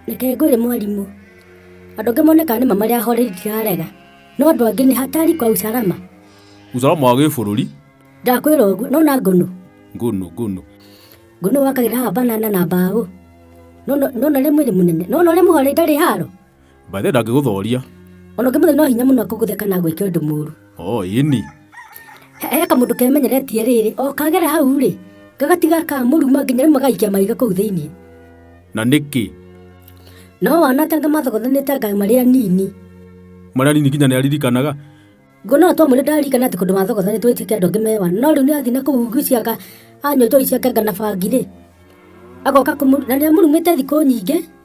Reke ngũre mwarimũ. Andũ angĩ monekaga nĩ ma marĩ ahoreri ndirarega. No andũ angĩ nĩ hatari kwa usalama. Usalama wa gĩbũrũri. Ndakwĩra ũguo, no na ngũnũ. Ngũnũ, ngũnũ. Ngũnũ wakagĩra haha banana na mbaũ. No na rĩmwe nĩ mũnene. No na ũrĩa mũhoreri ndarĩ haro. Mbathe ndangĩgũthoria. Ona ũngĩmũthĩ no hinya mũno akũgũthe kana agwĩke ũndũ mũru. O ĩni. He he kamũndũ kemenyeretie rĩrĩ, o kagera hau rĩ, gagatiga kamũruma nginya rĩmwe gaikia mahiga kũu thĩinĩ. Na nĩkĩ? No wanatanga mathogothanĩte anga marĩ anini. Marĩa nini nginya nĩ aririkanaga. Ngona atwa mũrĩ ndaririkana atĩ kũndũ mathogothanĩtwo ĩtuĩke andũ angĩ mewa. No rĩu nĩ athiĩ na kũu ngui ciaka anyua njohi ciake anga na bangi rĩ, agoka kũmũ na nĩ amũrumĩte thikũ nyingĩ.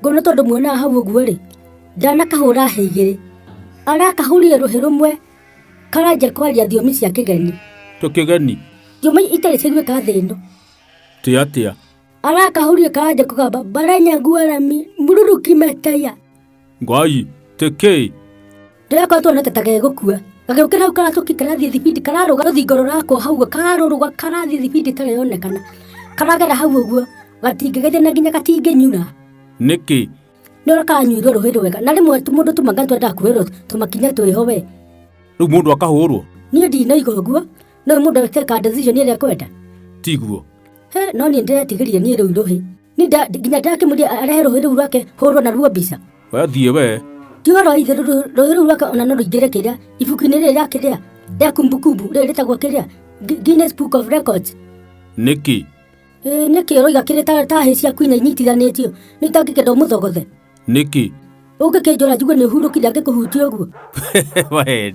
Ngono tondũ muonaga hau ũguo rĩ, ndanakahũra hĩ igĩrĩ, arakahũrire rũhĩ rũmwe karanjia kwaria thiomi cia kĩgeni, Tũ kĩgeni. thiomi itarĩ ciguĩka thĩ ĩno. Tĩ atĩa? Arakahũrire karanjia kũgamba baranya guarami mururuki meteya. Ngai, tekei. Rĩrĩa kwa tuona ta gũkua gagĩũkĩra hau karacũki karathiĩ thibindi kararũga rũthingo rũrakwo hau kararũrũga karathiĩ thibindi ĩtareyonekana karagera hau ũguo gatingĩgeithia na nginya gatingĩnyura nĩkĩ nĩ ũrĩa karanyuirwo rũĩ rwega na rĩmwe mũndũ tũmanga twendaga kuhĩrwo tũmakinya twĩho we rĩu mũndũ akahũrwo niĩ ndinoiga ũguo no mũndũ agĩteka decision ĩrĩa kwenda tiguo he no niĩ ndĩretigĩria niĩ rĩu rũhĩ Ni nda- nginya ndakĩmũria arehe rũĩ rũu rwake hũrwo na ruo mbica Wethiĩ wee. ti ũhoro wa ithe rũ- rũ- rũĩ rũu rwake ona no rũingĩre kĩrĩa ibuku-inĩ rĩrĩ rĩa kĩrĩa rĩa kumbukumbu rĩrĩ rĩtagwo kĩrĩa Gu- Guinness Book of Records Nĩkĩ? Ĩĩ, nĩkĩ ũroiga kĩrĩ ta ta hĩ ciaku inya inyitithanĩtio nĩ itangĩkenda ũmũthogothe Nĩkĩ? ũngĩkĩnjũra njugue nĩ ũhurũkire angĩkũhutia ũguo Wee.